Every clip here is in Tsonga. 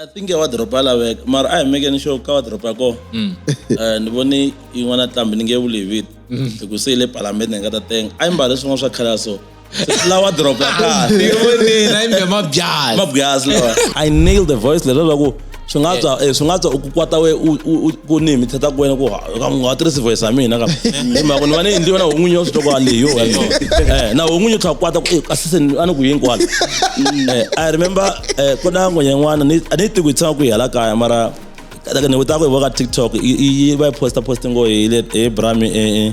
I think ya wadoroba ya laveka mara a hi mekeni xo ka wadoroba ya kona mm. eh, ni vone yin'wana tlambi ni nge vuli hi vito mm. hi ku se yi le palamende ni nga ta tenga a yi mbale swin'wana swa khale ya so lawa doroba ya kahle ndzi vonile na yimbe mabyazi mabyazi lawa i nailed the voice lero loko swi nga tswa eh, swi nga tswa u ku kwata we u- u- u- ku ni mi theta ku wena ku ha- ka u nga tirhisi voice ya mina ka hi mhaka ni va ni endliwe na hon'winyi wa switoko aleyo eh na hon'winyi u tlha kwata ku eh, kasi se ni- a ni ku yini kwala eh i remember eh ku na ngwenye n'wana ni a ni tiku hi tshama ku hi hala kaya mara ni vuta ku hi voka tiktok yi yi- yi va yi posta posta ngo hi le hi brami eh eh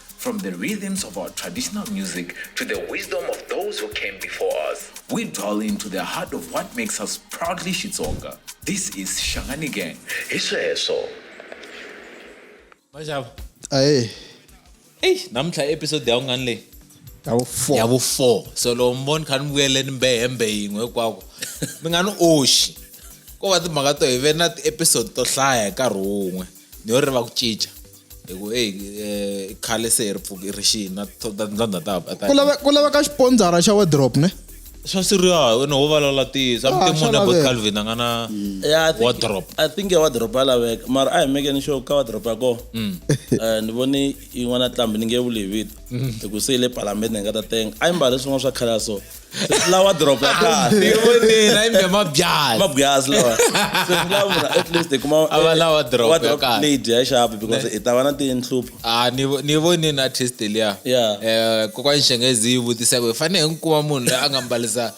From the rhythms of our traditional music to the wisdom of those who came before us, we dwell into the heart of what makes us proudly Shitsonga. This is Shangani Gang. Hi sweswo. Majava. aye Ey, namuntlha episode ya ungani leyi? ya wu four Ya vu 4. So loko mi vona kha ni vuyele ni mbe hembe yin'we hinkwako. Mi nga ni oxi. Ko va timhaka to hi ve na ti-episode to hlaya hi nkarhi wun'we. Ni yo ri va ku cinca. hi ku eyi eh, khale se hi ri pfuki ri xini na to- ta- ta- ta- ta- ta- ku lave- ku laveka xipondzara xa wadrop ne swa siriya wena wo valala tisa Ah, mutemo swa na bot laveka. calvin a nga na Yeah, I think- wardrop I think ya wardrobe ya laveka mara a hi mekeni sure ka wardrobe ya kona Mm. Eh, ni vone yin'wana tlambi ni nge vuli hi vito Mm. hi ku se yi le palamende ni nga ta tenga a yi mbale swin'wana swa khale ya so Sweswi lawa doroba ya kahle ni vonile na imbe mabyasi mabyasi lawa Sweswi lawa munhu at least hi kuma A va lawa doroba wa ya drop kahle. plate ya xapu because hi ta va na tinhlupho Ah, ni vo- ni voni na artist liya Yeah. Eh, kokwani xenghezi yi vutisa ku hi fanele hi n'wi kuma munhu loyi a nga mbalisa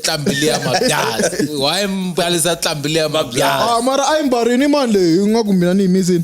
tlambi liya mabyasi why mbalisa tlambi liya mabyasi Ah, mara a yi mbarini mani leyi ingaku mina ni yimisini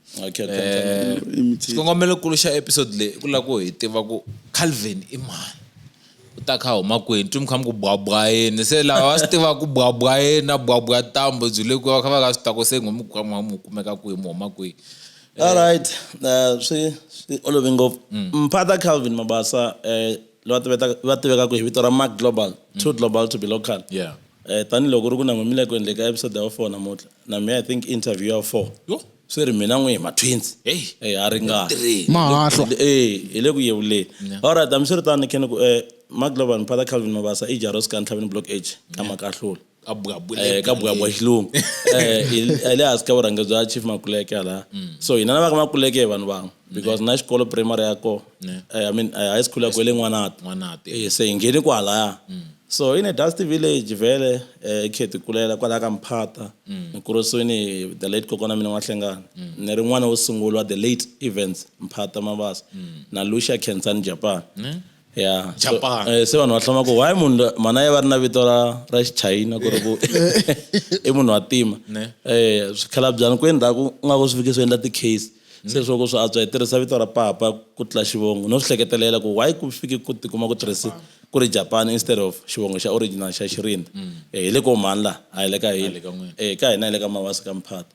Okay, okay, okay. Eh, Imitate. xikongomelokulu xa episode leyi i ku lava ku hi tiva ku calvin i mani u ta kha huma kwini twi mi kha mi ku bwabwa yini se lava va swi tivaka ku bwabwa yini na bwabwa tambo byi le kwihi va kha va ka swi ta ku se ngo mi ku mu mu kumeka kwihi mu huma kwihi All right. Uh, swi swi olove ngopfu. Mphata Calvin Mabasa eh va tiveta va tivekaka hi vito ra mark global mm. too global to be local yeah eh tanihiloko ku ri ku na n'wimile ku endleka episode ya four namuntlha na me i think interview ya four yo swi ri mina n'wi hi matwinsi hey eh, ha ringahahlo e eh, hi le ku yevuleni allright hambi swi ri tani khe ni ku um eh, mark global mphata calvin mabasa i jaros ka ntlhaveni block age ka makahlula ka buya buya eh, ka buya buya xilungu eh, eh, le hansi ka vurhangeri bya chief makuleke hala mm. so hina na va ka makuleke hi vanhu van'we mm. because na xikolo primary ya kona i mean high school ya kwe le n'wanati se hi ngheni kwalaya mm. so in a dusty village vele um khe ti kulela kwalaya ka mphata ni kurisiwini the late kokwana mina n'wahlengana ni ri n'wana wo sungula wa the late events mphata mabasa na lucia kensani japan ya so, Japan. eh, se vanhu va hlama ku why munhu la- mhana ya va ri na vito ra ra xichayina ku ri ku i munhu wa tima Ne. um swikhalabyanyi ku endzhaku u nga ku swi fike swi endla ti-case se swo ku swi antswa hi tirhisa vito ra papa ku tlula xivongo no swi hleketelela ku why ku fike ku tikuma ku tirhise ku ri japan instead of xivongo xa original xa xirinda um hi le ko mhani laha a hi le ka hina ka n'wina. um ka hina hi le ka mawasi ka mphato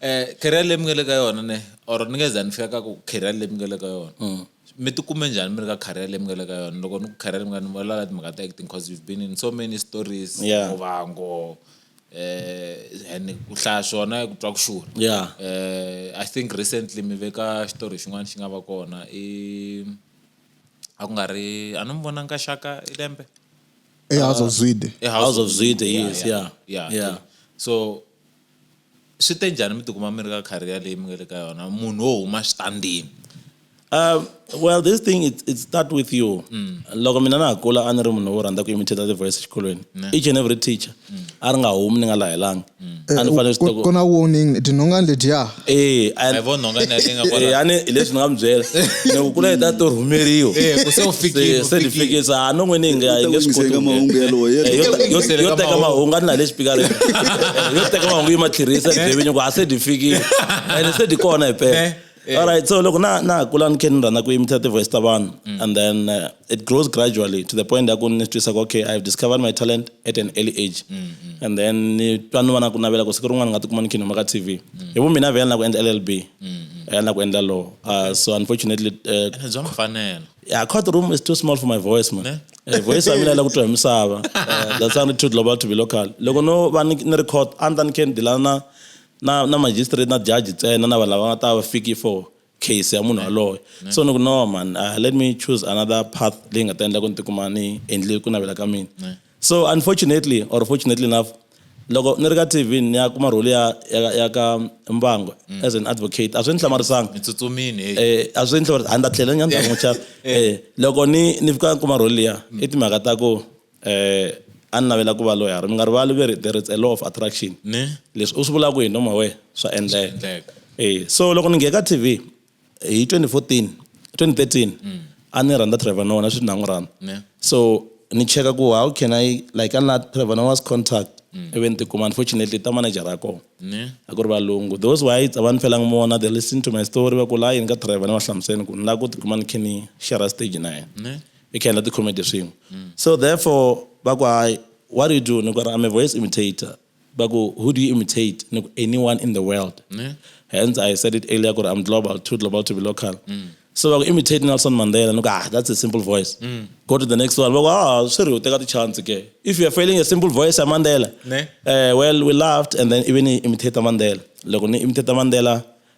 Eh, career leyi mi nga le ka yona ne or ni nge za ni fika ka ku career leyi mi nga le ka yona mm. mi tikume njhani mi ri ka career leyi mi nga le ka yona loko ni ku career mi nga ni vulavula timhaka ta acting because you've been in so many stories muvango eh and ku hlaya swona ku twa ku xurha yeah eh i think recently mi veka xitori xin'wana xi nga va kona i a ku nga ri a ni mi vonanga ka xaka i lembe ehouse of zwide ehouse of zwide yes yeah yeah so Swi te njhani mi tikuma mi ri ka career leyi mi nga le ka yona munhu wo huma xitandini Uh, well this thing it, it start with you mm. loko mina na ha kula a ni ri munhu wo rhandza ku imitate the voice exikolweni each and every teacher mm. a ri nga humi ni nga lahelanga mm. a ni eh, fanele swi kona warning tinhongani letiya Eh, and- Hi vona nhonga leyi nga kwala. Eh, a ni hi leswi ni nga mi byela ni ku kula hi ta to rhumeriwa Eh, ku se u fikile, Se- u se ni fikile. fikile se ha no n'wini hi nga hi nge swi koti Eka ku mahungu nghena. yalowo, yalowo. Eh, yo ta- yo- Eka yo teka mahungu. mahungu a ni na le xipikareni Eh, yo teka mahungu yi ma tlherisa hi byevinyo ku ha se di fikile ene se di kona hi Eh, pela eh. alright so loko na na ha kula ni khe ni rhandza ku yimisa ti-voice ta vanhu and then eh, it grows gradually to the point that ni twisa okay i've discovered my talent at an early age mm, mm. and then ni twa ni va na ku navela ku siku rin'wana ni nga tikuma ni khinoma ka tv mm. hi vu mina vhela na ku endla llb vhela na ku endla law uh, so unfortunately uh, bya mfanelo yeah court room is too small for my voice man eh, voice ya mina la ku twa hi misava uh, that's how too global to be local loko no va ni ri court a ni ta ni khe ni dilana na na na magistrate na judge ntsena na vanhu lava nga ta va fiki for case ya munhu yaloye so ni ku no man uh, let me choose another path leyi nga ta endla ku ni tikuma ni endle ku navela ka mina so unfortunately or fortunately enough loko ni ri ka tv ni ya kuma rholi ya ya ka mbango mm. as an advocate a swi ni hlamarisanga eh, a swi ni hlamarisanga a ni ta tlhela ni ya ni ta n'wi chava eh, loko ni ni fika kuma rholi liya mm. i timhaka ta ku a ni navela ku va loyara mi nga rivali ve ri there is a law of attraction ne leswi u swi vulaka hi noma we swa endleka e so loko ni ngheka tv hi 2014 2013 mm. a ni rhandza trevor noah na sweswi na n'wi rhandza so ni cheka ku how can i like a ni la trevor noah's contact mm. ivi ni tikuma unfortunately ta manager ya kona a ku ri valungu those whites a va ni felanga mona they listen to my story va ku la yini ka trevor ni va hlamuseni ku ni lava ku tikuma ni khe ni share stage na yena i can let the comedy swin'we mm. so therefore va ku hayi what do you do ni ku i'm a voice imitator va ku who do you imitate ni ku anyone in the world yeah. hence i said it earlier ku i'm global too global to be local mm. so va ku imitate nelson mandela ni ku ah that's a simple voice mm. go to the next one va ku ah swi ri u teka tichance ke if you're failing a simple voice ya mandela uh, well we laughed and then even imitate mandela loko ni imitate mandela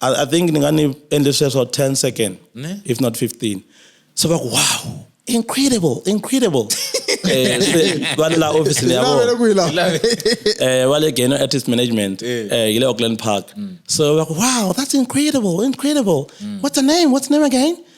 I, I think ni nga ni endle sweswo 10 second ne? if not 15 so va ku wow incredible incredible eh, va le la ofisini ya vona eh, va le geno artist management eh. eh, yi le auckland park mm. so va ku wow that's incredible incredible mm. what's the name what's the name again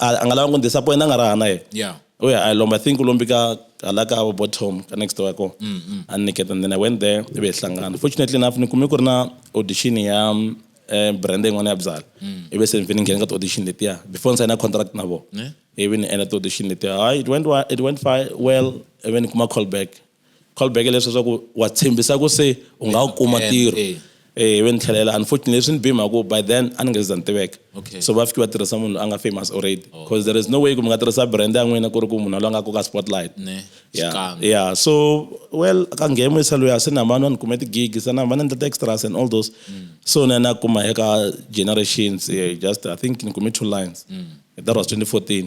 a a nga lava ku ni disappoint a nga raha na yena Yeah. u ya a yi lomba i think u lombi ka hala ka vo bottom ka next door ko a ni nyiketa and then i went there ivi hi hlangana fortunately enough ni kume ku ri na audition ya um, eh, brand yin'wana ya byala ivi se ni vhe ni nghene ka ti-audition letiya before ni sayina contract na vona Ne? ivi ni endla ti-audition letiya hayi it went, wa- it went fi- well ivi ni kuma call back call back leswi swa ku wa tshembisa ku se u nga wu kuma ntirho eh ve ni tlhelela unfortunately leswi ni bima ku by then a ni nga za ni tiveka so va fiki va tirhisa munhu loyi a nga famous already because there is no way ku mi nga tirhisa brand ya n'wina ku ri ku munhu loyi a nga koka spotlight yeah yeah so well ka ngemo isa loyi a se na mani wa ni kume ti-gig se na mani endla ti-extras and all those so na na kuma eka generations just i think ni kume two lines that was 2014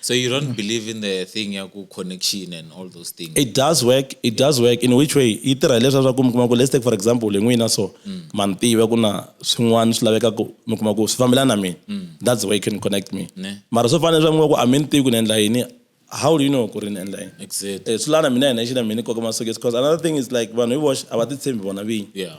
So you don't mm. believe in the thing ya ku connection and all those things. It does work. It does work in which way? Yi tirha leswaku ku mi kuma ku let's take for example hi n'wina so mm. ma ni tiva ku na swin'wana swi laveka ku mi kuma ku swi fambelana na mina. Mm. That's the way you can connect me. Mara swo fana leswaku mi ku a mi ni tivi ku ni endla yini how do you know ku ri ni endla yini. Exactly. Eh, swi lana mina hi nexe na mina koka masokisi because another thing is like vanhu hi voxe a va titshembi vona vinyi. Yeah.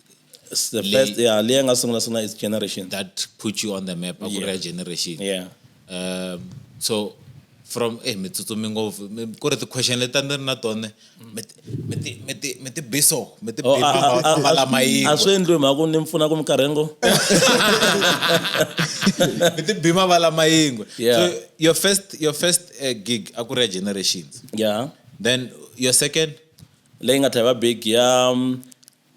It's the Leyi- first yeah leyi nga sungula sungula is generation that put you on the map akuri ya generation yeah um, so from eh mi tsutsumi ngopfu Mi- ku ri ti-question leti a ni ri na tone mi ti- mi ti- mi ti- mi ti biso mi ti Oh, a- a- a- a- bala a swi endliwi mhaka ku ni mi pfuna ku mi karhengo mi ti bima vala mayingwe Yeah. so your first your first uh, gig a ku ri ya generations yeah then your second leyi nga tlhela va big ya um,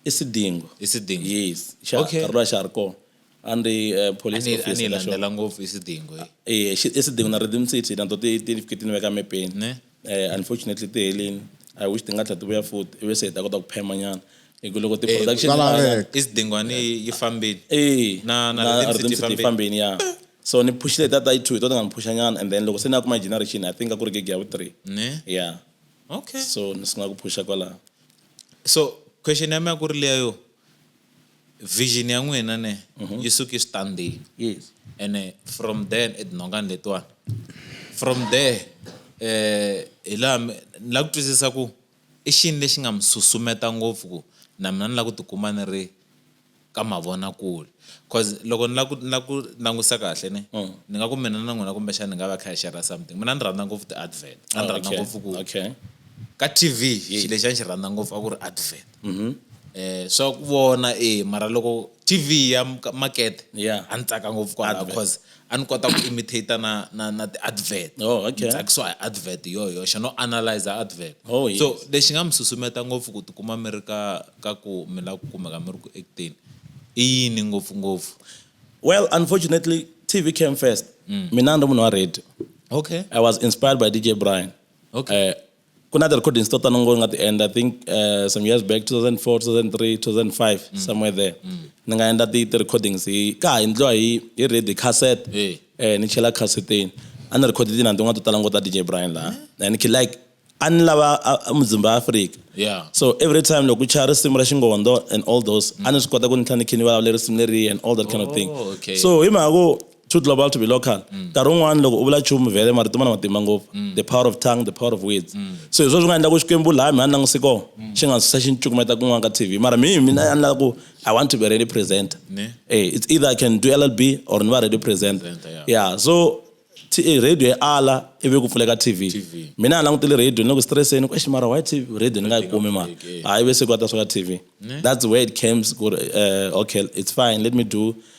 i sidingo i sidingo yes xa okay. nkarhi lowa xa ha ri kona a ni ri eh, police officer landzela ngopfu i sidingo eh, eh i sidingo na redim city na to ti ti fike ti ni veka mepeni ne eh unfortunately ti helini i wish ti nga tlhela ti vuya futhi ivi se hi ta kota ku phema nyana hi ku loko ti-production i sidingwani yi fambile eh na na redim city yi fambile ya so ni phushile tata yi two hi to ti nga ni phusha nyana and then loko se ni ya kuma generation i think a ku ri gig ya vu three ne yeah okay so ni sungula ku phusha kwalaho so question ya mina ku ri leya yo vision ya n'wina ne mhm. yi suke switandini yes ene from then etinhongani letiwani from there eh hi laha ni lava ku twisisa ku i xini lexi nga mi susumeta ngopfu ku na mina ni lava ku tikuma ni ri ka mavonakule cause loko ni la ku ni la ku langutisa kahle ne mm. ni nga ku mina na n'wina kumbexana ni nga va kha hi shera something mina ni rhandza ngopfu ti-advert a ni oh, rhandza ngopfu ku ka t v xilo lexi a ni xi rhandza ngopfu a ku ri advert mm-hmm. eh swa ku vona e mara loko t v ya makete a ni tsaka ngopfu kwalaho cause a ni kota ku imitator na na na ti-advert oh, okay. ni tsakisiwa hi advert yo yoxe no analyzer advert oh, yes. so lexi nga mi susumeta ngopfu ku tikuma mi ri ka ka ku mi lava ku kumeka mi ri ku acteni i yini ngopfungopfu well unfortunately tv came first mm. mina ni ri munhu wa radio okay i was inspired by dj brian okay uh, ku na ti-recordings to tano ngo ni nga ti endla i think uh, some years back 2004 2003 2005 mm. somewhere there mm. ni nga endla ti-recordings hi ka ha endliwa hi hi radio cassette hey. eh, ni chela casseteni a ni rekhode tinani tin'wana to tala ngo ta dj brian laha eh? and like a ni lava mudzimba wa afrika yeah. so every time loko ku chaya risimu ra xingondo and all those mm. a ni swi kota ku ni tlha ni khe ni vulavula risimu leriya and all that kind oh, of thing oh, okay. so hi mhaka ku too global to be local mm. nkarhi wun'wana loko u vula chumu vhele marito ma na matimba ngopfu mm. the power of tongue the power of words mm. so hi swo swi nga endla ku xikwembu laha mi a ni languse kona xi nga susa xi ni cukumeta kun'wana ka tv mara mihi mina a ni lava ku i want to be ready presenter hey, eh, it's either i can do llb or ni va ready presenter yeah so eh, radio yi ala ivi ku pfuleka tv mina a langutile radio ni le ku stresseni ku eximara why tv radio ni nga yi kumi mara hayi ve se ku ata swa ka tv that's where it came ku ri eh, okay it's fine let me do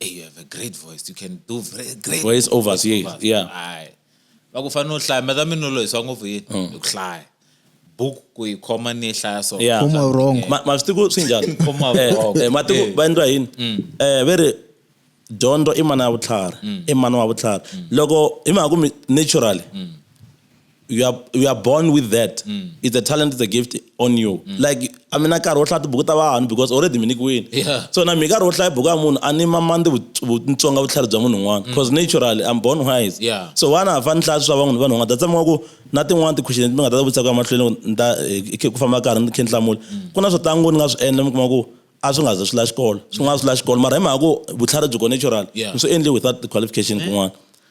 hey, you have a great voice you can do very great voice overs yes yeah hayi va ku fanele u hlaya meta minulo hi swa ngopfu yini mm. hi ku hlaya buku ku yi khoma ni yi hlaya so yeah khoma wrong ma ma swi ku swi njhani khoma eh, wrong eh, ma tiku eh. va endla yini mm. eh ve ri dyondzo i mana ya vutlhari mm. i mana wa vutlhari loko hi mhaka ku naturally you are you are born with that mm. it's a talent it's a gift on you mm. like i mean nkarhi wo hlaya tibuku ta vanhu because already mi nikiwini yeah. so na mi nkarhi wo hlaya buku ya munhu a ni mamandi vutsonga vutlhari bya munhu un'wana because mm. naturally i'm born wise yeah. so vana ha fani hlaya swi swa van'wini vanhu un'wana ta tshama ku na tin'wana ti-question mi nga ta vutisa ku emahlweni ni ta eh, ku famba karhi ni khe ni hlamula mm. ku na swo tangu ni nga swi endla mi kuma ku a swi nga ze swi la xikolo swi nga swi la xikolo mara hi mhaka ku vutlhari byi ko natural mi swi endli without qualification kun'wana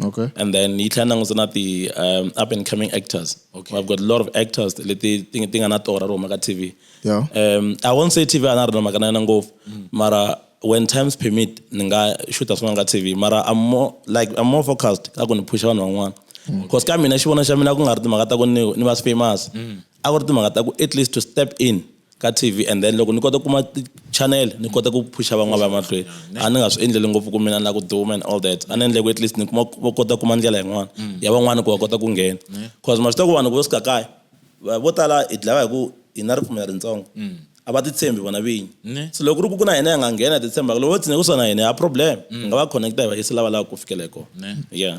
Okay. And then yi tlhela langusa na ti um, up and coming actors. Okay. I've got a lot of actors leti ti ti nga na tora ro maka TV. Yeah. Um, I won't say TV ana rona maka na yona ngopfu. Mm. Mara when times permit ni nga shoota swin'wana ka TV. Mara I'm more like I'm more focused ka ku ni phusha vanhu van'wana. Mm. Because ka mina xivona xa mina ku nga ri timhaka ta ku ni ni va famous. Mm. A ku ri timhaka ta ku at least to step in. ka TV and then loko ni kota ku kuma channel ni kota ku phusha van'wana va mahlweni a ni nga swi endleli ngopfu ku mina na ku duma and all that a ni endle ku at least ni kuma va kota kuma ndlela yin'wana mm. ya van'wana ku va kota ku nghena cause ma swi tiva ku vanhu vo sika kaya vo tala hi dlawa hi ku hi na ripfumela ritsongo mm. a va titshembi vona vinyi so loko ri ku ku na hina hi nga nghena hi titshembaka loko vo tsine ku sona hina ya problem hi mm. nga va connecta hi va yisa lava lava ku fikela hi kona yeah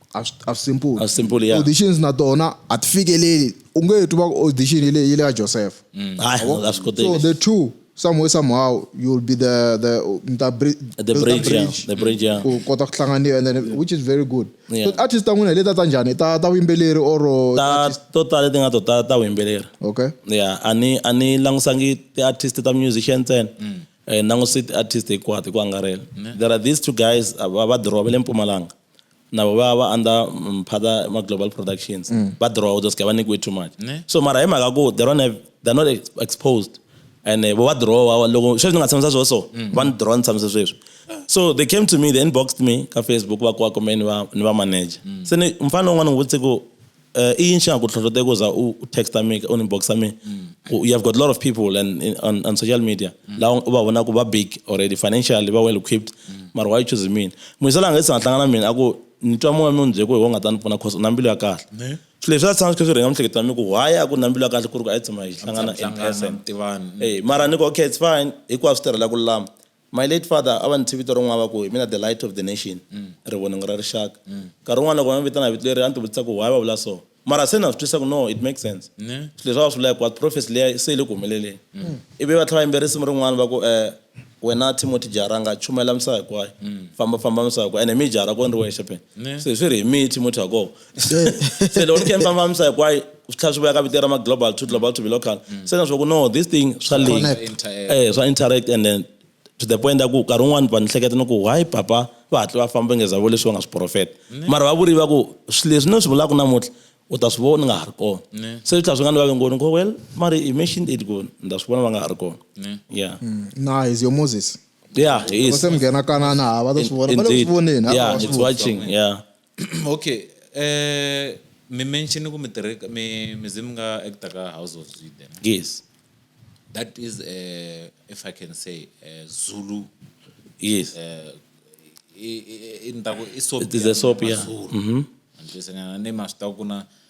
a swi- a swi simple A swi simple, yeah. auditions na tona a ti fikeleli u nge twi va ku audition yi le yi le ka joseph Mm. hayi a swi so koteki the two somewhere somehow you will be the the mi ta bri- the build bridge yeah the bridge yeah ku kota ku hlanganiwa and then which is very good Yeah. so artist ta n'wina hi leta ta njhani ta ta vuyimbeleri or ta to tala leti nga to ta ta vuyimbeleri okay ya a ni a ni langusangi ti-artist ta musician ntsena Mm. Eh, ni languse ti-artist hinkwato hi ku angarhela there are these two guys a va va dirowa va le mpumalanga na vo va va under mm, phata ma global productions mm. va draw those guy va nyikiwe too much ne? so mara hi mhaka ku they don't have they're not exposed and eh, vo va drawa loko sweswi ni nga tshamisa sweswo so mm. va ni draw ni tshamisa sweswi so they came to me they inboxed me ka facebook va kuva kumbe ni va ni va manager mm. se ni mfana un'wana ni vutise ku Uh, eh, in shangu hlohloteka uza utext ami uninbox ami you have got a lot of people and in, on, on social media mm. la uba vona ku va big already financially va well equipped mm. mara why choose me muyisela nga isanga hlangana mina aku ni twa moya mi byeko hi wo nga ta ni pfuna cause na mbilu ya kahle swilo leswi a tshama swi kha swi rhenga mihleketa mi ku why a ku na mbilu ya kahle ku ri ku a yi tshama hi hlangana in person mara ni ku okay it's fine hinkwaswo swi tirhela ku lulama My late father a va ni thyi vito rin'wana va ku hi mina the light of the nation, rivoningo ra rixaka. Nkarhi wun'wana loko va ni vitana hi vito leri a ni tivutisa ku why va vula so, mara se na swi twisisa ku no it makes sense. Swilo leswi a va swi vula hinkwaswo prophecy liya se yi le ku humeleleni. Ivi va tlhela va yimbelela risimu rin'wana va ku wena Timothy Jaranga chumayela misava hinkwayo, fambafamba misava hinkwayo ene mi hi jarha ko ni ri wexe phela, se hi swi ri hi mi Timothy ha koho. se loko ni khe ni fambafambisa hinkwayo swi tlhela swi vuya ka vito ra ma-global to global to be local mm. se na swa ku no this thing swa eh, swa interact and then to the point ya ku nkarhi wun'wani va ni hleketa ni ku why papa va hatli va famba ngeza vo leswi va nga swi profeta mm. mara va vuriva ku swi leswi ni swi vulaka namuntlha u ta swi vona ni nga ha ri kona mm. se swi tlhela swi nga ni vake ngoni ko well mari i mentioned it ku ni ta swi vona va nga ha ri kona ya na is your moses yeah he is se mi nghena kanana ha va ta swi vona va le ku swi voneni ha va swi watching yeah okay mi mention ku mi tirhe mi mi ze mi nga actor ka House of Zwide ne? yes that is uh, if i can say uh, zulu yes uh, i- i- i- ni ta ku i soap It is ya a soap, yeah. Mazulu. Mhm. Antswisanyana ni ma swi tiva ku na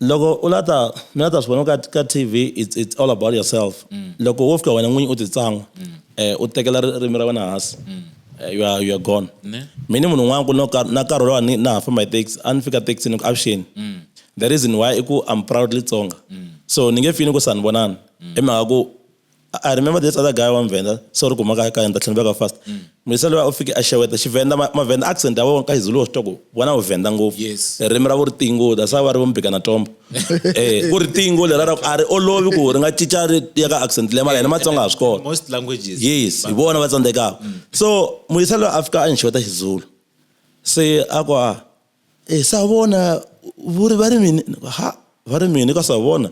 Loko u la ta, mi la ta swi vona ka, ka TV, it's, it's all about yourself. Loko wo fika wena n'winyi u ti tsan'wa, eh, u tekela ri- ririmi ra wena hansi, eh, you are, you are gone. Ne. Mina munhu un'wana ku no ka na nkarhi lowa ni na ha famba hi taxi a ni fika taxi ni ku avuxeni the reason why i ku I'm proudly Tsonga so ni nge feel ni ku sanibonani hi mhaka ku I remember this other guy one Venda, sorry ku maka ka enda tlhela ka fast. Mm. Muyisa loyi u fike a xeweta Xivenda Mavenda accent ya wona ka Izulu wa swi twa ku vona u Venda ngopfu. Yes. Ririmi ra ku ri tingo that's why va ri vo mbika na tombo. Eh ku ri tingo leri ra ku a ri olovi ku ri nga cinca ri ya ka accent leyi mara hina Matsonga ha swi kona. Most languages. Yes hi vona va tsandzekaka. Mm. So Muyisa loyi a fika a ni xeweta Xizulu se a ku a e sa vona vhuri vha ri mini ha vha ri mini ka sa vona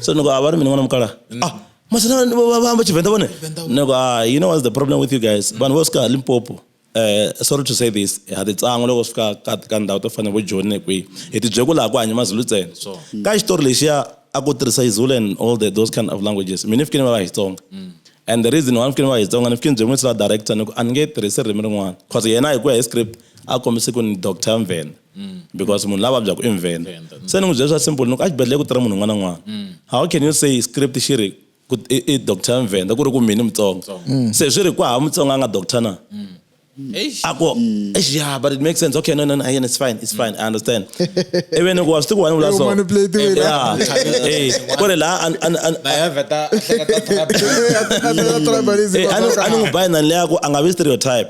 so ni a vha ri mini ṅwana mukala mm. ah masana vha amba tshivenḓa vhone ni go ah you know what's the problem with you guys mm. vanhu vho swika limpopo eh sorry to say this ha ti tsango loko swika ka ka ndhawu to fana bo joni ne kwi hi ti byeku laha ku hanya mazulu ntsena ka xitori lexiya a ku tirhisa izulu and all the, those kind of languages mina fikini va va xitsonga mm. and the reason why fikini va xitsonga ni fikini byemwisila director ni ku a ni nge tirhisi ririmi rin'wana cause yena hi ku ya hi script a kombise ku ni doctor mvhenda mm. because munhu la vabyaku i mvhenda mm. se ni n'wi byele swa simple ni ku exibedhlele ku tirha munhu un'wana n'wana mm. how can you say script xi ri i doctor mvhenda ku ri ku mini mutsonga se swi ri ku hava mutsonga a nga doctor na a ku yeah but it makes sense okay no no no yeah, it's fine it's fine i understand ivi ni ku wa swi tiku wani vula so yeah eh ku ri la an an an ba ya veta a ni n'wi bayi nani leyaku a nga vi stereotype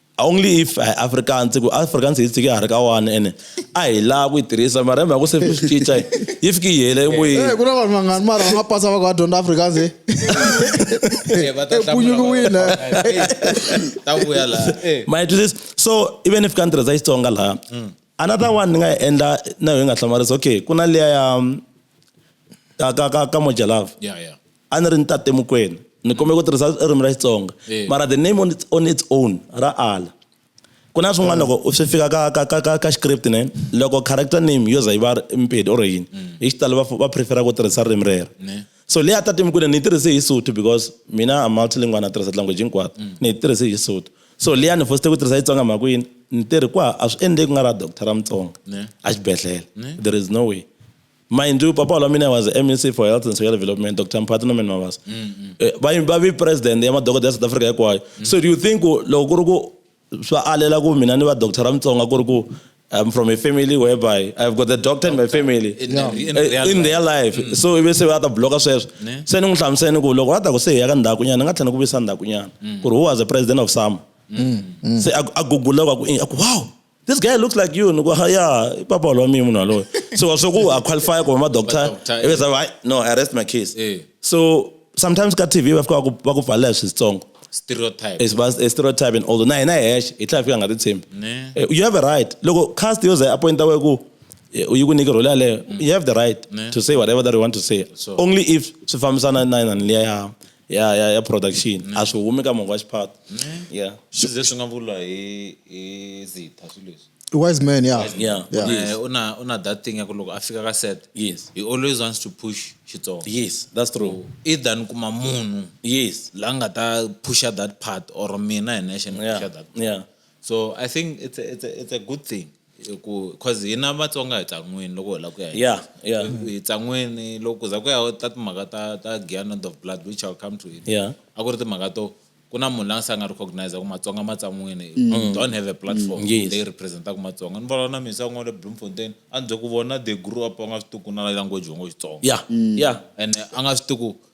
only if hi afrikaans ku afrikaans hi tshike ha ri ka one ene a hi laha ku yi tirhisa mara mhaka se swi cinca yi fike yi hela emoyeni eh, ku na vanhu vangani mara va nga pasa va ku va dyondza afrikaans eh. eh, epunyukiwile ta vuya laha ma yi twisisa so even if ka ni tirhisa xitsonga laha mm. another one ni nga yi endla na yo yi nga hlamarisa okay ku na liya ya ka ka ka ka mojalava a ni ri ni tate mukwena ni kombela ku tirhisa ririmi ra xitsonga eh. mara the name on its, on its own ra ala ku na swin'wana loko swi fika ka ka ka ka ka script ne loko character name yo za yi va mpedi or yini mm. hi xitalo va va prefera ku tirhisa ririmi rero so leyi a tate mukwena ni yi tirhise hi sotho because mina a multilingual na tirhisa language hinkwato mm. ni yi tirhise hi sotho so leyi a ni fosite ku tirhisa xitsonga mhaka yini ni tirhi kwa a swi endleki ku nga ra doctor ra mutsonga a xibedhlele there is no way mind you papa walamina was mec for health and social development dr mphathi norman mavasa eh, va vi president ya madokodela ya south africa hinkwayo mm. so do you think loko ku ri ku swa alela ku mina ni va doctor ra mutsonga ku ri ku I'm from a family whereby I've got a doctor in my family in, yeah. in, eh, real, in real life mm. so ivi se va ta bloka sweswo se ni n'wi hlamuseni ku loko va ta ku se hi ya ka ndhakunyana ni nga tlhela ni ku visa ndhakunyana mm. ku ri who was the president of sama mm. se a guguleka ku wow this guy looks like you ni ku ha ya i papa wa mina munhu walowo so wa swi ku a qualify ku va ma-doctor eh. ive zava no i rest my case eh. so sometimes ka tv va fika va ku pfalela hi switsongo stereotype is bas a stereotype and although na hina hi hexe hi tlhela fika nga ti tshembi eh, you have a right loko cast yo ze appointa we ku you ku nyike role yaleyo mm. you have the right to say whatever that you want to say only if swi fambisana na na liya ya ya ya ya production a swi humi ka munhu wa xiphato ya swi ze swi nga vula hi hi zitha swilo leswi I wise man, yeah. Wise man. Yeah. Yeah. Yes. Yes. Una, una that thing ya ku loko a fika ka set Yes. he always wants to push xitsonga yes that's true either ni kuma munhu yes la nga ta pusha that part or mina hi nexe ni yeah pusha that part. yeah so i think it's a, it's a, it's a good thing ku cause hina vatsonga hi tsan'wini loko hi lava ku ya yeah, yeah. hi tsan'wini loko ku za ku ya ta timhaka ta ta gianod of blood which ill come to it yeah. a ku ri timhaka to ku na munhu la nga se a nga recognize ku matsonga ma tsan'wini mm. don't have a platform mm, yes. leyi representaka matsonga ni vona na misa n'wana le bloemfontein a ni bye ku vona the grew up a nga swi tiku na language wango xitsonga yeah, mm. yeah. ene a nga swi tiku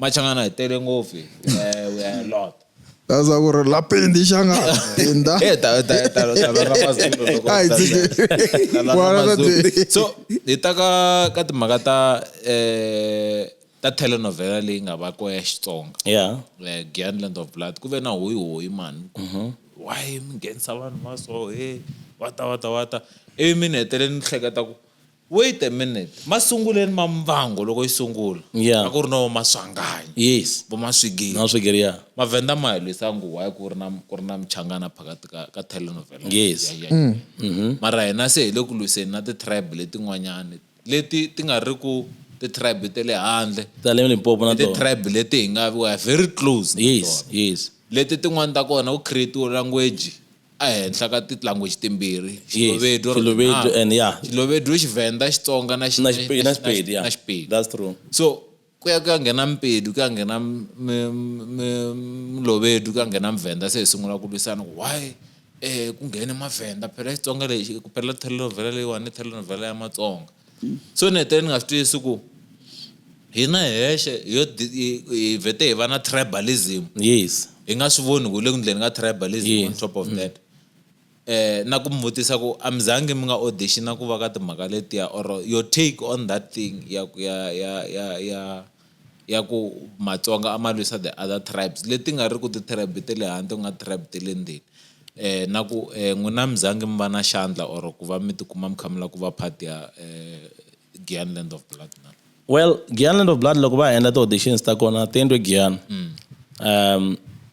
Machangana hi tele ngopfu. Eh, we are a lot. Kaza ku ri la pendi xanga penda. Eh, ta ta ta ta ta ra mazulu loko. Ai, dzike. Ta la Wala ra Mazulu. dzike. So, hi ta ka ka timhaka ta eh ta telenovela leyi nga va ko ya Xitsonga. Yeah. eh, Giantland of Blood ku ve na hoyi hoyi mani why mi nghenisa vanhu va so he wata wata wata ivi mi ni hetelele ni hleketa ku Wait a minute, masunguleni ma Muvhango loko yi sungula Yeah. a ku ri na vo Maswanganyi, Yes. vo Maswigiri. Na Swigiri ya. Mavhenda ma hi lwisa ngo why ku ri na ku ri na muchangana phakati ka ka telenovela. Yes. Yeah, yeah, yeah. Mara hina se hi le ku lwiseni na ti-tribe letin'wanyani leti ti nga ri ku ti-tribe te le handle. Ta le Limpopo na I tona. ti-tribe leti hi nga we are very close na Yes, tona. yes. Leti tin'wani ta kona ku create-iwe language a henhla ka ti language timbirhi Xilovedu or Xilovedu and ya Xilovedu Xivenda Xitsonga na na Xipedi na Xipedi ya na Xipedi that's true so ku ya ku ya nghena Mpedu ku ya nghena Mlovedu ku ya nghena Mvenda se hi sungula ku lwisana ku why eh ku nghene Mavenda phela Xitsonga lexi ku phela telenovela leyiwani telenovela ya Matsonga So ni hetelele ni nga swi twisisi ku hina hi hexe hi yo hi vhete hi va na tribalism yes hi nga swi voni ku le ku ndleni ka tribalism yes. on top of mm. that eh na ku mi vutisa ku a mi zangi mi nga auditiona ku va ka timhaka letiya or your take on that thing ya ya ya ya ya ya ku Matsonga a ma lwisa the other tribes leti nga ri ku ti-tribe ta le handle ku nga tribe ta le ndzeni um na ku um n'wina mi zangi mi va na xandla or ku va mi tikuma mi kha mi lava ku va part ya um Giyani Land of Blood na well Giyani Land of Blood loko va ha endla ti-auditions ta kona ti endliwe Giyani um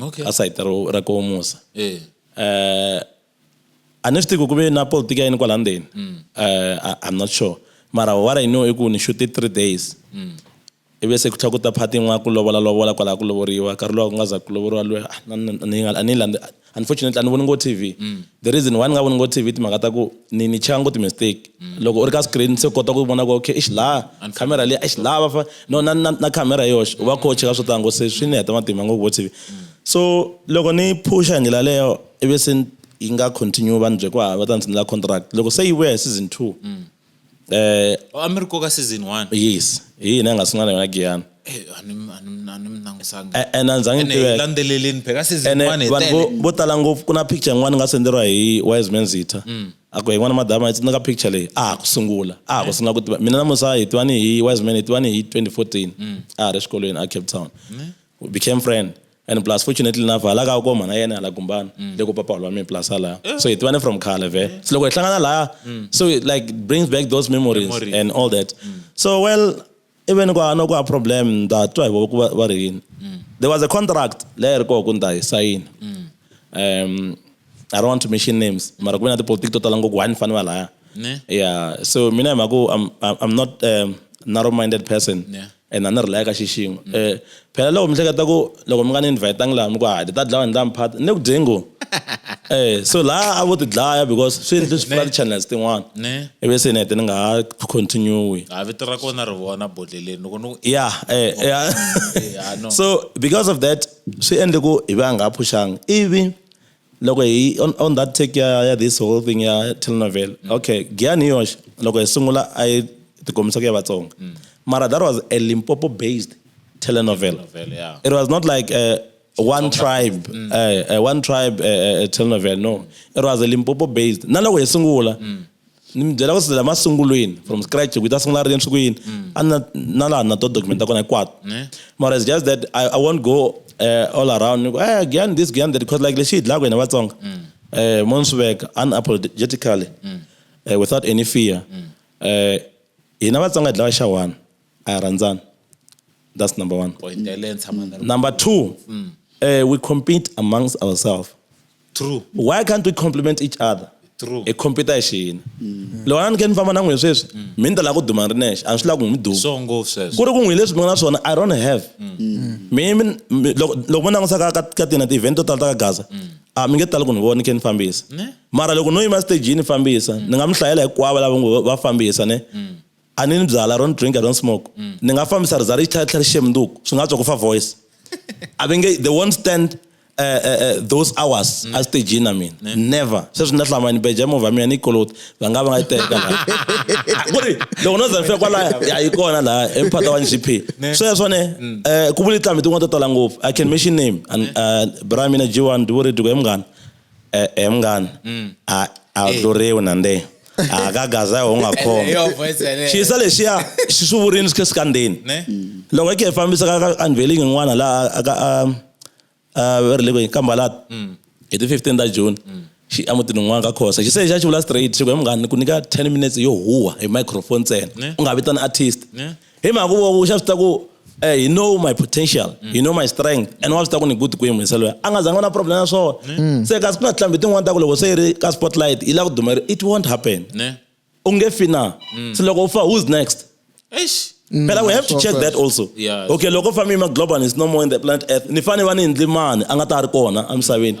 okay. ka sayiti ra koho musa eh. eh a ni swi tivi ku ve na politiki ya yini kwala ndzeni mm. eh, i'm not sure mara what i know i ku ni shute three days mm. ivi se ku tlha ku ta phati yin'wana ku lovola lovola kwalaha ku lovoriwa nkarhi lowa ku nga za ku lovoriwa loyi ah, unfortunately a ni voni ngo tv mm. The reason why ni nga voni ngo TV timhaka ta ku ni ni cheka ngo ti-mistake. Mm. Loko u ri ka screen se u kota ku vona ku okay eish laha camera leyi eish laha va fa no na na na camera hi yoxe u va kho u cheka swo tala ngo se swi ni heta matimba ngo ku vo TV. Mm. So loko ni phusha hi ndlela leyo ivi se yi nga continue va ni bye ku hava va ta ni tshinela contract loko se yi vuya hi season two mm. Oh, a mi ri koka season one yes hi yini a nga sungula na yona giyani Eh, a ni mi- a ni mi- a ni mi langusanga A- and a ni zange ni Ene hi tiveka. landzeleleni phela ka season ene one hi vanhu vo- tele vo tala ngopfu ku na picture yin'wana ni nga senderiwa hi wise man zitha Mm. a ku yin'wana madama yi tsundzuka picture leyi a ha ku sungula a ha ku sungula ku tiva mina namusa hi tivani hi wise man hi tivani hi 2014 Mm. a ha ri exikolweni a cape town we became friend and plus fortunately enough hala ka koma na yena hala gumbana mm. le ku papa wa mina plus hala eh. so hi tivane from khale ve eh. so loko hi hlangana laya mm. so it like brings back those memories, memories. and all that mm. so well even kwa no kwa problem nda twa hi ku va ri yini mm. there was a contract leyi ri koko nda hi sayina mm. um i don't want to mention names mara ku ve na tipolitiki to tala ngopfu wani fani va laya yeah so mina hi mhaku i'm not um, narrow minded person yeah and a ni ri laya ka xixingo um mm. phela loko mi hleketa ku loko mi nga ni invhayitanga laha mi ku hadi ta dlawa ni ta mi phata ni le ku dyeni ngo um so laha a vo ti dlaya because swi endle swi pfula ti-channels tin'wana ivi se ni hete ni nga ha continue ha vito ra kona ri vona bodleleni loko ni ya um so because of that swi endle ku hi va nga ha phuxangi ivi loko hi on, on that take ya, ya this whole thing ya telenovela mm. okay giyani yoxe loko hi sungula a yi tikombisa ku ya vatsonga mm. mara that was a limpopo based telenovela yeah. it was not like uh, one tribe mm. uh, uh, one tribe uh, uh, telenovela no mm. it was a limpopo based na loko hi sungula mm. ni mi byela ku sila masungulweni from scratch ku yi ta sungula ri yini swi ku yini mm. a na na laha na to documenta kona hinkwato mara it's just that i, I won't go uh, all around ni ku eh gyan this gyan that because like lexi hi dlaka hina vatsonga mm. eh mo ni swi veka unapologetically mm. eh, without any fear eh hina vatsonga hi dlaka xa one a hi rhandzani that's number one number two eh we compete amongst ourselves true why can't we compliment each other True. hi compete hi xiyini mm. loko a ni ke ni famba na n'wina sweswi mm. mi ni ta lava ku duma ni ri nexe a ni swi lava ku n'wi duma so ngopfu sweswo ku ri ku n'wi leswi mi nga na swona i don't have mm. mi mi mi- loko loko mi langutisa ka ka- ka tina ti-event to tala ta ka gaza a mi nge tali ku ni vona ni khe ni fambisa mara loko no yima stagini fambisa ni nga mi hlayela hinkwavo lava ngo va fambisa ne a ni ni byala don't drink i don't smoke mm. ni nga fambisa rizari yi tlhela tlhela ri xemnduku swi nga tswa ku fa voice a va nge they won't stand uh, uh, those hours mm. asitejini mina yeah. never sweswi ni lahlama ni beja movha mina ni koloti va nga va nga yi teka laha ku ri loko no zanfika kwalaya ya yi kona laha emphata wa ngp sweswo ne um ku vuli tlambi tin'wana to tala ngopfu i can mention name and uh, bra mina g1 ndi vuri diko hi munghana E-e mngani. Mm. A a tluriwi na nde. A ka gaza ho nga khoma. Yo voice yale. Xisa lexiya xi swi vurini swi khe swi kandzeni. Ne. Loko i khe i fambisa ka ka unveiling yin'wana laha a ka a a va ri le kwihi ka Mbalata. Mm. Hi ti fifteen ta June. Mm. Xi a mutini wun'wana ka Khosa. Xi se xa xi vula straight xi ku he munghana ni ku nyika ten minutes yo huha hi microphone ntsena. Ne. U nga vitani artist. Ne. hi mhaka ku voku xa swi ta ku eh, you know my potential mm. you know my strength and wa swi ta ku ni good ku yimisa loyi a nga zanga na problem ya swona mm. se kasi ku na tilambi tin'wana ta ku loko se yi ri ka spotlight yi la ku dumeri it won't happen u nge fi na mm. se loko u fa who's next Eish. Mm, phela we have to check that also yeah, okay loko family ma global is no more in the planet earth ni fane va ni hindli mani a nga ta ri kona emisaveni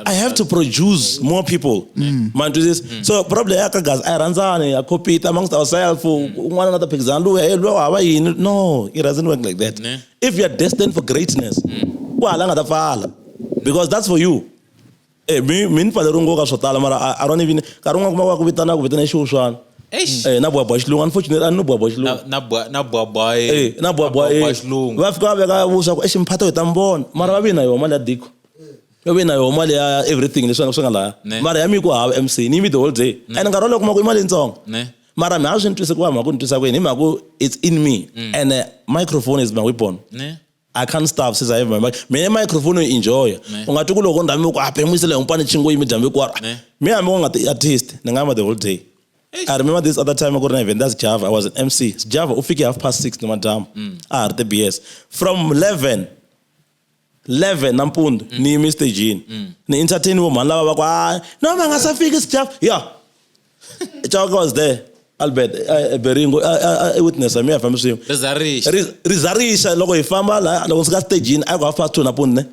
I have to produce more people. Mm. Man, do this. Mm. So probably I can guys, I run down, I copy it amongst ourselves. Mm. One another picks and do hey, no, it doesn't work like that. Mm. If you're destined for greatness, mm. well, I'm not fall because that's for you. Eh, mi mi ni fanele ri nkoka swo tala mara i don't even nkarhi un'wana kuma va ku vitana ku vitana xiwu swani Eh, na bwabwa xilungu unfortunately a ni bwabwa xilungu na bwabwa eh na bwabwa eh, eh. xilungu va fika va veka vuswa ku exi mphata hi ta mi vona mara va vi na yona mali ya diko yo ve na yoho mali ya everything leswi nga swi nga laya mara ya mi ku hava mc ni yimi the whole day and nkarhi wolowo kuma ku i mali yitsongo mara mi ha swi ni twise ku va mhaka ku ni twisa ku yini hi mhaka ku it's in me mm. and uh, microphone is my weapon I can't stop since I have my mic. Mina microphone u enjoy. Ungathi kulo konda mi ku aphemisele ah, ngipane chingo yimi jambe kwara. Me ami ku ngathi artist, ningama the whole day. I remember this other time akurina event that's Java. I was an MC. Java ufike half past 6 noma dam. Mm. Ah, the BS. From 11 11 nampundzu mm. ni yime stagini mm. ni entertain vo mhani lava va ku a no va nga sa fiki sijaf ya chaka was there albert eh, eh, beringo eh, i witness mi ya fambi swin'we rizarixa loko hi famba la loko ndzi ka stagini a ku half past two nampundzu ne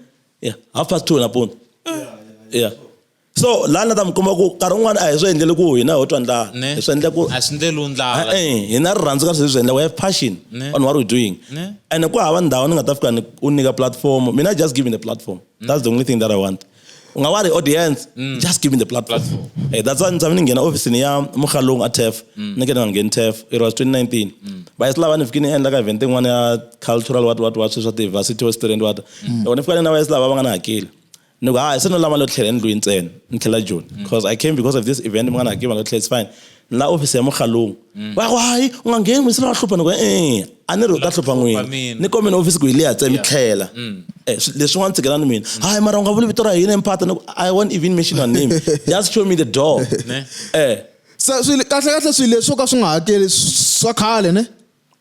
ya half past two nampundzu ya so laha ni ta mi kuma ku nkarhi wun'wana a hi swi endleli ku hina ho twa ndlala hi swi endle ku a swi endleliwi ndlala e hina rirhandzu ka sweswi swi endla we have passion on what we doing and ku hava ndhawu ni nga ta fika u nyika platform mina just giving the platform that's the only thing that i want u nga wa ri audience mm. just give me the platform hey, that's why ni tshame ni nghena ofisini ya mukhalungu a tef mm. ni ke ni nga ngheni tef it was 2019 mm. va yi swi lava ni fike ni endla ka event yin'wana ya cultural wat wat wat sweswi swa ti-varsity western wat yona ni fika ni na va yi swi lava va nga ni hakeli Ni ku, ha, se no lava lo tlhela endlwini ntsena. Ni tlhela Joni. Because mm. I came because of this event, mi nga ni hakeli, va lo tlhela, it's fine. Ni la office ya Mokgalong. Mm. Va ku, hayi, u nga ngheni, mi se va hlupha. Ni ku, eh, a ni ri u ta hlupha n'wini. Ni komeni office ku hi liya tse, mi tlhela. Mm. Eh, leswin'wana tshikela ni mina. Hayi, mara u nga vuli vito ra hina emphata. Ni ku, I won't even mention your name. Just show me the door. Eh. Kahle kahle swilo leswo ka swi nga hakeli swa khale, ne?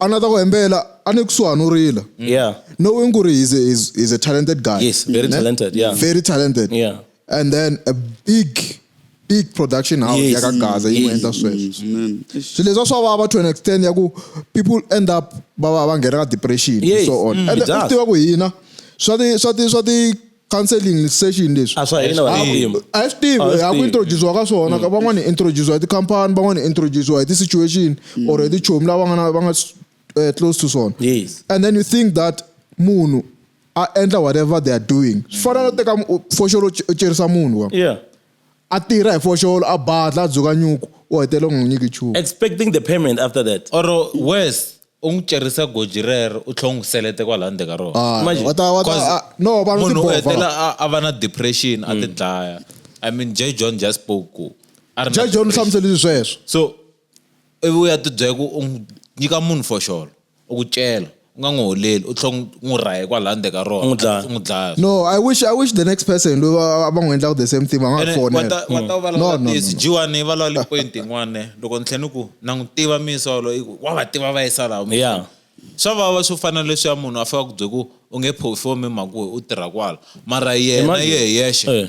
a ni ta ku hembela a ni kusuhani u rila yeah knowing ku ri he's a, he's, he's a talented guy Yes, very Ne? talented, yeah. very talented Yeah. and then a big big production house Yes. yaka gaza yi n'wi Yes. endla sweswo Amen. swi leswa swa vava to an extent ya ku people end up va va va nghena ka depression Yes. and so on Mm, and it then u does. tiva ku hina swa ti swa ti swa ti counseling ni session leswi a swa hina vanhu timu a hi swi tivi hi ya ku introduciwa ka swona ka van'wana hi introduciwa hi tikhampani van'wana hi introduciwa hi ti-situation or hi tichomi lava nga na va nga eh, close to swona Yes. and then you think that munhu a endla whatever they are doing swi fana no teka mu- u- foxolo u ce- u cerisa munhu wa yeah a tirha hi foxolo a badla a dzuka nyuku u hetelela u nga n'wi nyiki nchumu expecting the payment after that or worse u n'wi cerisa goji rero u tlhela u n'wi selete kwalaho ndzeni ka rona Ah, Imagine. wa ta- wa ta- Cause ah, no, vanhu munhu u tibova. hetelela a- a va na depression a ti dlaya i mean j john just spoke ku a ri na ja john u depression. hlamusele sweswo so ivi u ya ti byela ku u n'wi nyika munhu foxolo u ku cela u nga n'wi holeli u tlhela u n'wi rahe kwalaya ndzeni ka rona n'wi dlaya. u n'wi dlaya no i wish i wish the next person loyi va va- va n'wi endlaka the same thing va nga Ene n'wi wa fonela ta- wa ta va no no lawulisi no jiwani va lawuli point yin'wana loko ni tlhela ni ku na n'wi tiva misolo i ku wa va tiva va yisa laha mi- Yeah. swa vava swo fana na leswiya munhu a fika ku bye ku u nge phofomi hi mhaka ku we u tirha kwala mara yena Imagine. ye hi yexe Eh.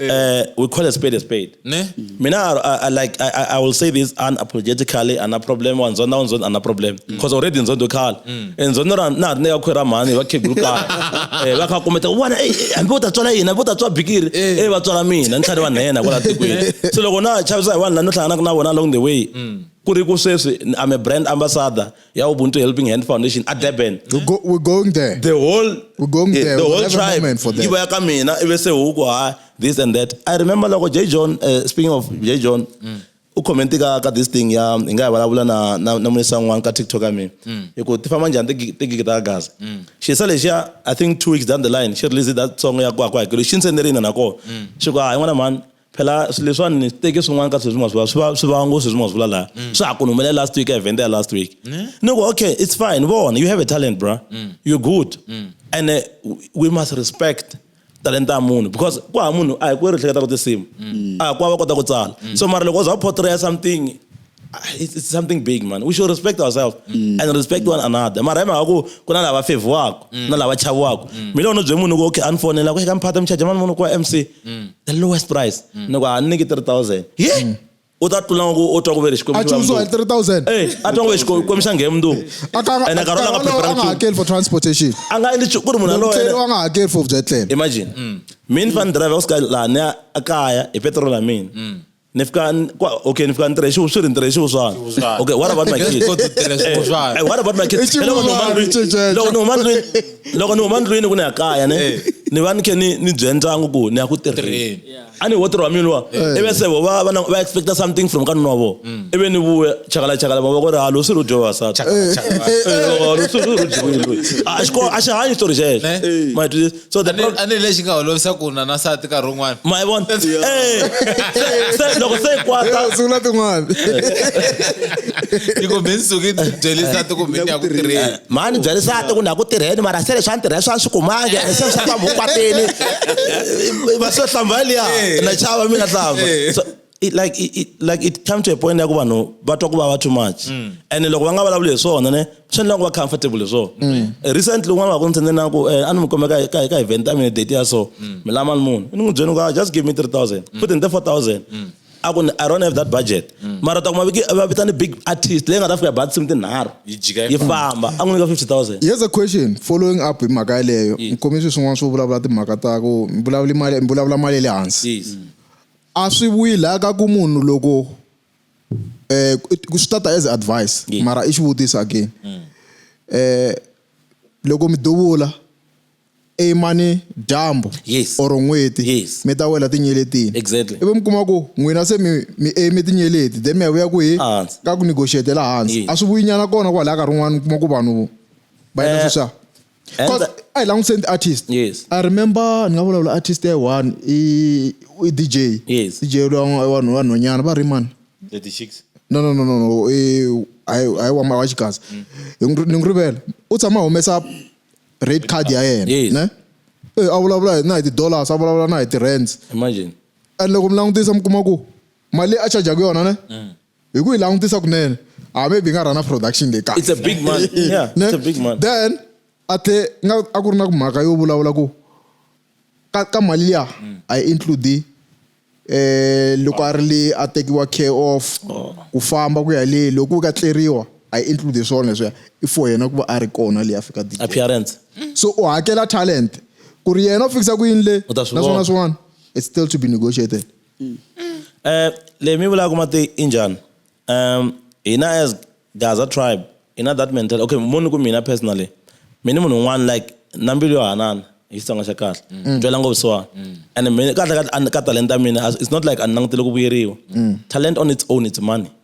uh, we call a spade a spade ne mina I, I, like I, I will say this unapologetically ana problem wa nzonda wa nzonda ana problem because mm. already nzondo khala mm. and nzondo ra na ne ya khwera mhani va khegulu khala eh va kha kumeta wana eh, eh hambi u ta tswala yini hambi u ta tswa bikiri eh, eh va tswala mina ni tlhari va nhena kwala tikweni so loko na chavisa hi vanhu la no hlanganaka na vona along the way mm. ku ri ku sweswi i'm a brand ambassador ya Ubuntu Helping Hand Foundation at Durban. We go, we're going there. The whole we're going yeah, there. The whole tribe. Moment for that. Iba kamina ibe se huko ha this and that. I remember like J John uh, speaking of J John. Mm. u commenti ka ka this thing ya hi nga ya vulavula na na na munisa n'wana ka tiktok ya mina mm. hi ku ti famba njhani tigigi ta gaza mm. xisa lexiya i think two weeks down the line xi release that song ya ku a ku hakelo xi ndzi sendele ina nakona mm. xi ku a hi n'wana mhani phela swilo leswiwani ni swi teke swin'wana ka sweswi maswi swi va swi va ngo sweswi maswi vula laha mm. swa ha ku ni humelela last week event ya last week ni ku okay it's fine vona you have a talent bra mm. you're good mm. and uh, we must respect talenta ya munhu because ku ha munhu a hi ku ri hleketa ku tinsimu a hi ku va va kota ku tsala so mara loko u za portray something it's, it's something big man we should respect ourselves mm. and respect one another mara hi mhaka ku ku na lava fevhiwaka mm. na lava chaviwaka mm. mina u no bye munhu ku okay a ni fonela ku eka mphata mi charge mani munhu ku wa mc mm. the lowest price mm. ni ku a ni nyiki 3000 ye yeah. mm u ta tlula ku u twa ku ve le xikwembu xa mundzuku 3000 eh a twa ku ve xikwembu xa nghe mundzuku and a karona nga prepare nga hakeli for transportation a nga endli ku ri munhu loyo a nga hakeli for byetlelo imagine mm. mina fan driver ku sika laha ni a kaya hi petrol ya mina mm. ni fika ni- kwa- okay ni fika ni tirhe xiwu swi ri ni tirhe xiwu swani Xiwuswana. okay what about my Yes, kids go to tirha xiwuswana. Eh, what about my kids I xiwuswana, Loko ni huma ndlwini- xiwuswana. loko ni huma ndlwini loko ni huma ndlwini ku ni ya kaya ne Eh. ni va ni khe ni ni byela ndyangu ku ni ya ku tirheni Tirheni. a ni wo tirhi wa mina luwa Eh. ivi se vo va va na- va expecta something from ka nuna wa vona Mm. ivi ni vuya chakala chakala mavoko ri halo swi ri u dyo vavasati Eh, Chakala, chakala. Eh, loko swi ri u dyiwile loyi. A xiko- a xi hanyi xitori xexo Eh. Ma hi twisisa? so the problem a ni lexi nga holovisa ku na nasati nkarhi wun'wana ma yi vona Eh, se- se loko se yi kwata Eh, sungula tin'wana yi ku mi ni suki ni byeli nsati ku mi ni ya ku tirheni mani byela nsati ku ni ya ku tirheni mara se leswi a ni tirhela swa ni swi kumangi ene se swa kwambi u kwatini va swo hlamba liya na chava mi nga hlamba So, it, like it, it, like it come to a point ya ku vanhu va twa ku vava too much mm. and loko va nga vulavuli hi swona ne swi endla ku va comfortable hi swona mm. eh, recently un'wana wa ku ni tshende na ku eh, a ni mi kumeka ka event ya mina date ya so mm. mi lama ni munhu ni n'wi byeni ku just give me 3000 futhi ni te 4000 a ku i don't have that budget mara ta kuma va vita ni big artist leyi nga ta fika bathsim tinharhu yi famba a n'wi nyika 50000 here's a question following up hi mhaka yeleyo nkomiso swin'wana swo vulavula timhaka ta ku vulavula mali vulavula mali ya le hansi A swi vuyi laya ka ku munhu loko um swi ta ta as advice mara i xivutiso again um loko mi duvula i mani dyambu yes or n'hweti yes mi ta wela tinyeletini exactly ivi mi kuma ku n'wina se mi mi aim tinyeleti then mi ya vuya kwihi ka ku negotiate la hansi a swi vuyi nyana kona kwalaya nkarhi wun'wani mi kuma ku vanhu va endla sweswiya. And Cause the- a hi langutiseni ti-artist Yes. i remember ni nga vulavula artist ya one i i dj Yes. dj lowa n'wa- wanhu vanhwanyana va ri mani The the chicks. no no no no no i hayi hayi wa ma- wa xikazi Hi n'wi- ni n'wi rivela u tshama a humesa rate card ya yena Yes. ne Eh, a vulavula hi- na hi ti-dollars a vulavula na hi ti-rands Imagine. and loko mi langutisa mi kuma ku mali leyi a chajaku yona ne hi ku yi langutisa kunene a ah, maybe yi nga rhana production leyi kahle it's a big man yeah it's a big man then a tlhe nga a ku ri na ku mhaka yo vulavula ku ka ka mali liya a yi include eh loko a ri le a tekiwa care of oh. ku famba ku ya le loko ku ka tleriwa a yi include swona leswiya i for yena ku va a ri kona leyi afika appearance so u hakela talent ku ri yena u fikisa ku yini le naswona swin'wana it's still to be negotiated Mm. Eh, le mi vulaka mati i njhani um hina as gaza tribe hi na that mental okay moni ku mina personally mi ni munhu un'wana like na mbilu yo hanana hi xitsonga xa kahle mm. twela ngopfu siwani mm. and mina kahle ka talenta mina it's not like a ni langutele ku vuyeriwa mm. talent on its own it's money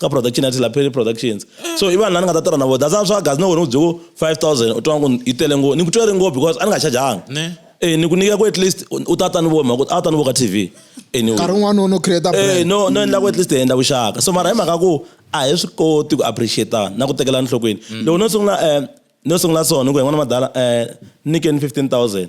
ka production ya tilapeli productions so i vanhu lani nga ta tirha na vo that's why swa gazi na wena u byeko five thousand u twa ku yi tele ngo ni ku twere ngo because a ni nga chajanga e ni ku nyika ku at least u ta ta ni vo mhaka a ta ni vo ka tv nkarhi wun'wana no create eh, no no endla ku at least hi endla vuxaka so mara hi mhaka ku a hi swi koti ku appreciate na ku tekela enhlokweni mm. loko no sungula um no sungula so ni ku hi n'wana madala um eh, nyikeni fifteen thousand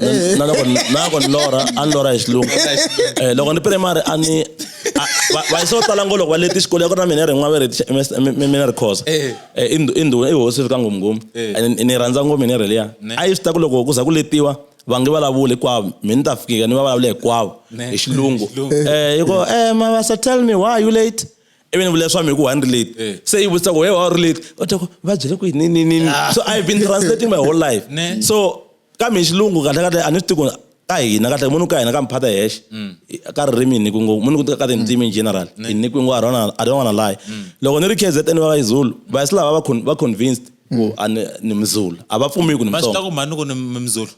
eh. na loko na loko ni lora a ni lora hi xilungu eh, loko ni primary a ni vanhu swo tala ngo loko va leti xikolo ya ku ri na mina ri n'waveri mina ri khosa eh. eh, i ndhuna i hosi fika ngomngom eh. ni rhandza ngo mina ri liya a yi swi ta ku loko ku za ku letiwa va nge vulavuli hinkwavo mi ni ta fikika ni va vulavula hinkwavo hi xilungu um yi ko um mavasa tell me why are you late ivi ni vula leswaku mi ku one relate eh. se yi vutisa ku he wa relate u ta ku va byele ku yini ni ni ni ah. so i've been translating my whole life so kambe hi xilungu kahlekahle a ni swi tivi ka hina kahle munhu ka hina ka mphata hexe mm. ka ririmi ni kungo munhu ku ka tindzimi in mm. general i ni kungo a rona a rona layi mm. loko ni ri KZN va yi Zulu va yi lava va convinced ku a ni mzulu a va pfumi ku ni msonga va swi ta ku mani ku ni mzulu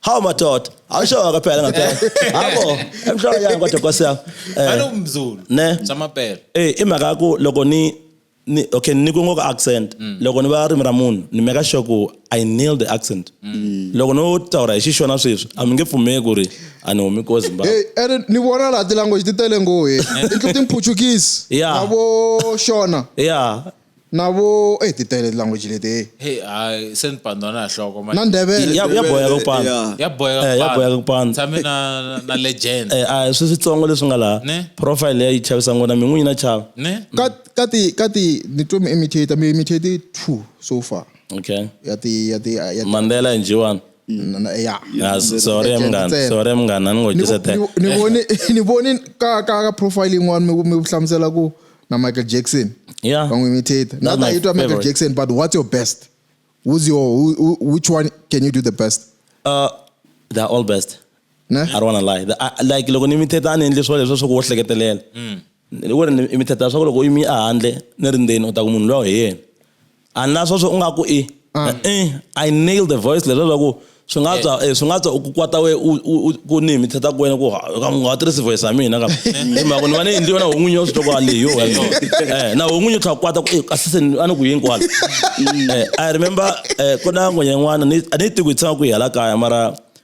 hawu madoda awushoka kwaphela ngaphela habo emhloko yangu kodwa nkosi yami eh, ne samaphela eh imhaka ku loko ni ni, okay ni ku ngo ka accent mm. loko ni va rimi ra munhu ni meka sure ku i nail the accent mm. loko no taura hi xixona sweswi a mi nge pfumeki ku ri a ni humi ko zimbabwe ene ni vona laha tilanguage ti tele ngo he intlo timphuchukisi na vo xona ya na vo e ti tele tilanguage leti he hayi se ni pandwa na nhloko na ndebele ya boya ka kupanda ya boya ka ya boya ka kupanda tshame na na legend eh a swi switsongo leswi nga laha profile ya yi chavisa ngona min'winyi na chava ne ka ti ka ti ni twe mi imitate mi imitate two so far okay ya ti ya ti ya ti- mandela and jiwan na- na- ya Ah, s- sorry Ntsena. mngani sorry mngani Ni vo- aningojisa ni vo- ni voni ni voni ka ka ka profile yin'wana mi mi hlamusela ku na Michael Jackson yeah va n'wi imitate That's not my that you twa Michael favorite. Jackson but what's your best who's your who, who, which one can you do the best uh, they're all best ne I don't wanna lie. The- I- like loko ni imitate a ni endli swilo leswi swa ku wo hleketelela Hi ku ri ni mi thetha leswaku loko u yimi ehandle ni ri ndzeni u ta ku munhu luya hi yena a ni la sweswo u nga ku i ah. e i nail the voice leswi leswaku swi nga tswa eh. eh, swi nga tswa ku kwata we ku ni mi thetha ku wena ku nga tirhisi voice ya mina kambe hi mhaka ni va ni endliwe na ho n'winyi yo swi twa ku leyo eh, na ho n'winyi u tlha kwata ku eh, kasi se a ni ku yini kwala i remember ku na n'wenya yin'wana a ni yi tiku yi tshama ku yi hala kaya mara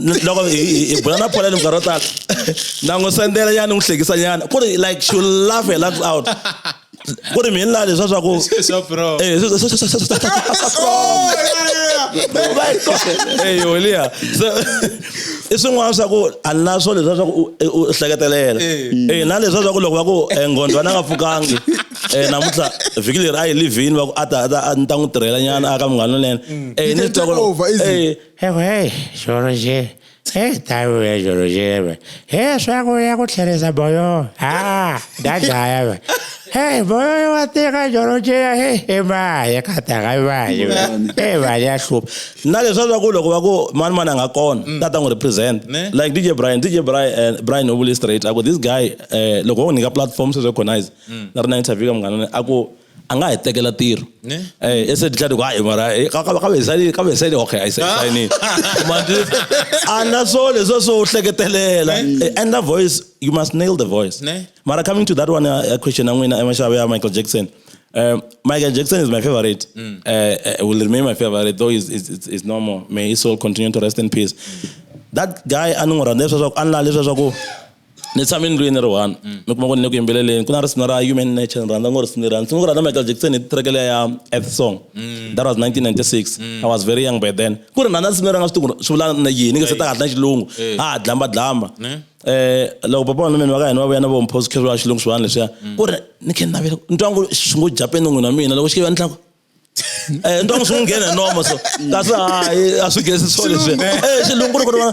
loko hi bula na pholani minkarhi yo tala na n'wi sendela nyana ni n'wi hlekisa nyana ku ri like she laugh her lungs out ku ri mina leswa swa ku eyi holiya i swin'wana swa ku a ni na swo leswa swa ku u hleketelela e na leswa swa ku loko va ku nghondwa na nga pfukangi um namuntlha vhiki leri a yi livhini va ku a ta a ta ni ta n'wi tirhela nyana a ka munghana lonene e ni twa ku Ewe, George. Hey, tayo ya George ebe. Hey, swako ya ku tlherisa boyo. Ah, dadaya ebe. Hey, boyo wa teka George ya he. Ema, ya kata ga ba. Hey, ba ya hlup. Na leswa swa ku loko va ku mani mani anga kona, mm. tata ngo represent. Like DJ Brian, DJ Brian, uh, eh, Brian Obuli straight. Ako this guy, uh, loko wo nyika platform se recognize. Mm. Na rina interview ka mngana, ako a nga hi tekela tiro ne eh ese ditla di kwa e mara eh, ka ka ka be sale ka be sale okay i said sign in manje ana so leso so hleketelela eh, and the voice you must nail the voice ne mara coming to that one uh, uh question i'm winner emashabe ya michael jackson um, Michael Jackson is my favorite. Mm. Uh, uh, will remain my favorite, though he's, he's, he's no more. May his soul continue to rest in peace. Mm. That guy, I know, ni tshame ndlwini ni ri one ni kuma ku ni le ku yimbeleleni ku na risimu ra human nature ni rhandza ngo risimu leri a ni sungula ku rhandza michael jackson hi track leya ya earth song that was 1996 i was very young by then ku ri ni rhandza risimu leri a nga swi tivi ku ri swi vula na yini nge se ta kahle na xilungu ha ha dlamba dlamba um loko papa wanuna va ka hina va vuya na vo mphoskheriwa xilungu swivanhu leswiya ku ri ni khe ni navela ni twa ngo swi ngo japeni n'wini wa mina loko xi ke va ni tlaku Eh, ntongo swi n'wi nghena nomo so kasi hayi a swi gezi swo leswi eh, xilungu loko vona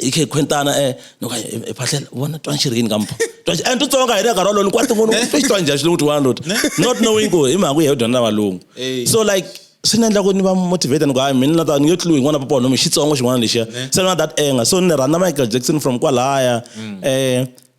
i khe khwentana um loko i phahlela vona twa nxiri yini ka mpho and eh, tutsonga hi le nkarhi wolowo loko wa tin'wana u twa xitwa njhani xilungu tiwana loti not knowing ku hi mhaka ku hi dyondza na valungu so like swi ni endla ku ni va motivate ni ku hayi mina ta ni nge tliwi n'wana papa wanomi xitsongo xin'wana lexiya se na that anger so ni rhandza michael jackson from kwalaya um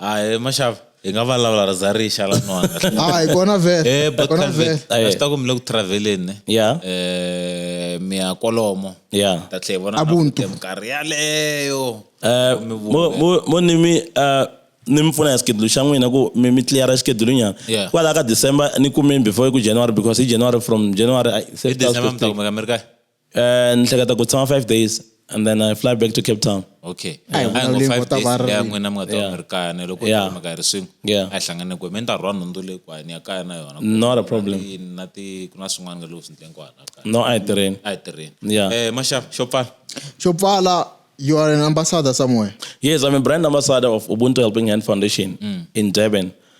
hayi maxava hi nga vulavula ri za ri xa la nwana Ah, hi kona vhele. Eh, but Kona Calvin, vhele. a swi ta ku mi le ku traveleni ya eh mi ya kwalomo ya ta tlhe hi vona Ubuntu. na minkarhi yaleyo Eh, Mi vuya. mo- mo- mo ni mi eh, ni mi pfuna ya schedule xa n'wina ku mi mi cleara schedule nyana Yeah. kwalaho ka december ni kumeni before ku january because hi january from january I- se hi swi ta swi december mi ta koteka. kumeka mi ri kahle Eh, ni hleketa ku tshama five days and then i fly back to cape town okay Ai, A hi ngo vulavuleni five vo ta days va ri leya rini. n'wina mi nga ta va Yeah. mi ri kaya ni loko Yeah. mi ka hi ri swin'we Yeah. a hi hlangane kwihi mi ni ta rhwa nhundzu leyi kwahi ni ya kaya na yona Not a problem. Ni- na ti ku na swin'wana leswi swi ndleni kwala kaya no a hi tirheni a hi tirheni Yeah. eh maxava xo pfala xo pfala you are an ambassador somewhere yes i'm a brand ambassador of ubuntu helping hand foundation in durban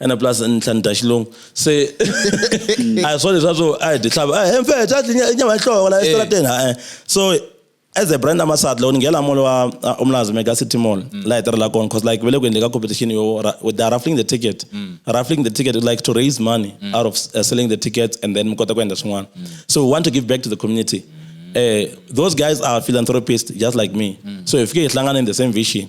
ene plus ntlha ni dya xilungu se a hi swo leswa swo a hi dyi hlava he mfe dya nyama yi hloko la esitarateni eh. ha-e so as a brand ambassador loko ni nghela mall wa uh, umlazi mega city mall mm. la hi tirhela kona because like vele ku endleka competition yo they are raffling the ticket mm. raffling the ticket like to raise money mm. out of uh, selling the tickets and then mi kota ku endla swin'wana so we want to give back to the community uh, those guys are philanthropists just like me so hi fike hi hlangana in the same vision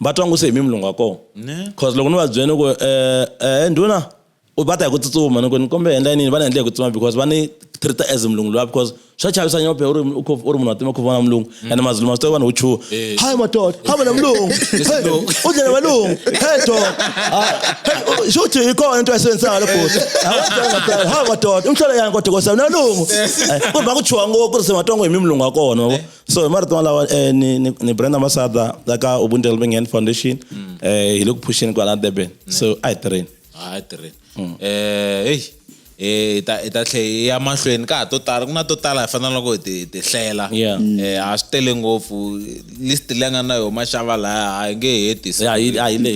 va twa ngo se hi mi mulungu wa kona cause loko ni va byele ni ku um ndhuna va ta hi ku tsutsuma ni ku ni kombe endla yinini va ni endle hi ku tsutsuma because va ni treat as mulungu luwa because swa chavisa nyophe u ri u ri munhu wa tima ku vona mulungu mm. and mazulu masito vanhu wu chuha eh. hayi madoda ha vona mulungu u dlela valungu he do swi uthi hi kona into yasebenzisaka lobhuti hayi madoda umhlola yani kodwa kosa na lungu eh, ku va ku chuha ngopfu ku ri se matongo hi mi mulungu wa kona eh. so hi marito malawa eh, ni, ni, ni brenda masada la ka ubuntu helping hand foundation mm. eh, hi le ku phuxeni kwala durban mm. so a hi tirheni a hi tirheni mm. eh, hey eh ta ta tlhe ya mahlweni ka to tala ku na to tala hi fanele loko ti ti hlela eh a swi tele ngopfu list leyi nga na yo maxava laya a yi nge hetisi a yi a yi le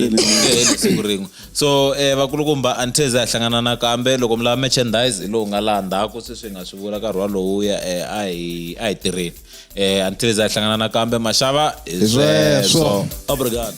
siku rin'we so eh, vakulukumba a ni theze a hlangana nakambe loko mi lava merchandise hi lowu nga laha ndzhaku sweswi hi nga swi vula nkarhi walowuya eh, a hi a hi tirheni eh, a ni theze a hlangana nakambe maxava hi Hi sweswo. sweswo obrigado